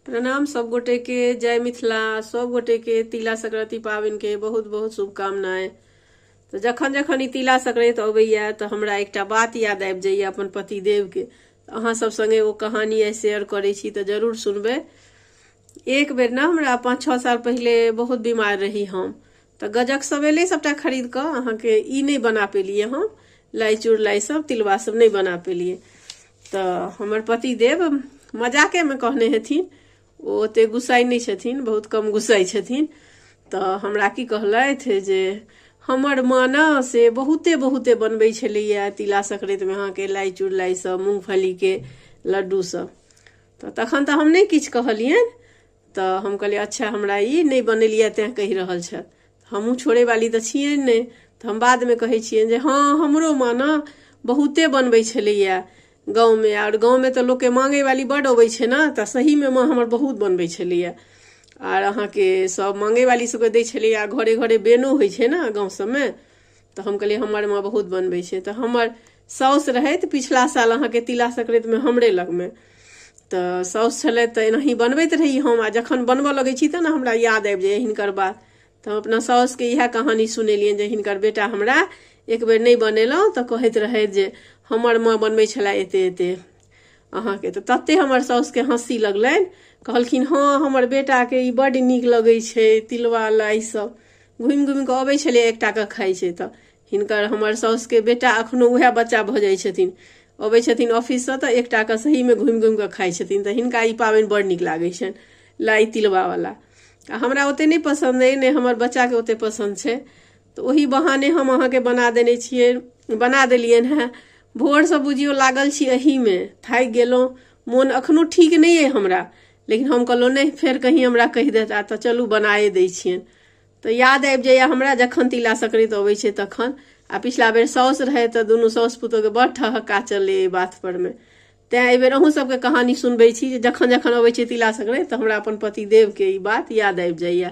प्रणाम सब गोटे के जय मिथिला सब गोटे के तिला संक्रांति पाबनि के बहुत बहुत शुभकामनाएं तऽ जखन जखन ई तिला संक्रांति अबैया तऽ हमरा एकटा बात याद आबि जाइया अपन पतिदेव के तऽ अहाँ सब संगे ओ कहानी आइ शेयर करै छी तऽ जरूर सुनबै एक बेर ने हमरा पाँच छः साल पहिले बहुत बीमार रही हम तऽ गजक सब एलै सबटा खरीद कऽ अहाँके ई नहि बना पेलियै हम लाइ चुड़लाइ सब तिलबा सब नहि बना पेलियै तऽ हमर पति देव मजाके मे कहने हेथिन ओ ओते गुस्साइ नहि छथिन बहुत कम गुस्साइ छथिन तऽ हमरा की कहलथि जे हमर माँ ने से बहुते बहुते बनबै छलैया तिला संक्रांति मे अहाँके लाइ चुड़लाइ सब मूंगफली के लड्डू सब तऽ तखन तऽ हम नहि किछु कहलियनि तऽ हम कहलियै अच्छा हमरा ई नहि बनेलियै तैँ कहि रहल छथि हमहूँ छोड़ैवाली तऽ छियै नहि तऽ हम बादमे कहै छियनि जे हँ हमरो माँ ने बहुते बनबै छलैए गाँवमे आओर गाँवमे तऽ लोकके माँगैवाली बड्ड अबै छै ने तऽ सहीमे माँ हमर बहुत बनबै छलैए आर अहाँके सभ माँगैवाली सभके दै छलैए घरे घरे बेनो होइ छै ने गाँव सभमे तऽ हम कहलियै हमर माँ बहुत बनबै छै तऽ हमर साउस रहैत पिछला साल अहाँके तिला संक्रान्तिमे हमरे लगमे तऽ साउस छलै तऽ एनाही बनबैत रही हम आ जखन बनबऽ लगै छी तऽ ने हमरा याद आबि जाइए हिनकर बात तऽ हम अपना साउसके इएह कहानी सुनेलियनि जे हिनकर बेटा हमरा एक बेर नहि बनेलहुँ तऽ कहैत रहथि जे हमर माँ बनबै छलए एते एते अहाँके तऽ तते हमर साउसके हँसी लगलनि कहलखिन हँ हमर बेटाके ई बड्ड नीक लगै छै तिलवा लाई सब घुमि घुमि कऽ अबै छलै एकटा कऽ खाइ छै तऽ हिनकर हमर साउसके बेटा अखनो उएह बच्चा भऽ जाइ छथिन अबै छथिन ऑफिससँ तऽ एकटा कऽ सहीमे घुमि घुमि कऽ खाइ छथिन तऽ हिनका ई पाबनि बड़ नीक लागै छनि लाई तिलवावला आ हमरा ओतेक नहि पसन्द अइ नहि हमर बच्चाके ओतेक पसन्द छै तऽ ओहि बहाने हम अहाँके बना देने छियै बना देलियनि हेँ भोरसँ बुझियौ लागल छी एहीमे थाकि गेलहुँ मोन एखनो ठीक नहि अइ हमरा लेकिन हम कहलहुँ नहि फेर कहीं हमरा कहि देता तऽ चलू बनाए दै छियनि तऽ याद आबि जाइए हमरा जखन तिला संक्रान्ति अबै छै तखन आ पिछला बेर साउस रहै तऽ दुनू साउस पुतोहके बड़ ठहक्का चललै एहि बातपर मे तैँ एहि बेर अहूँ सबके कहानी सुनबै छी जे जखन जखन अबै छै तिला संक्रान्ति तऽ हमरा अपन पतिदेवके ई बात याद आबि जाइए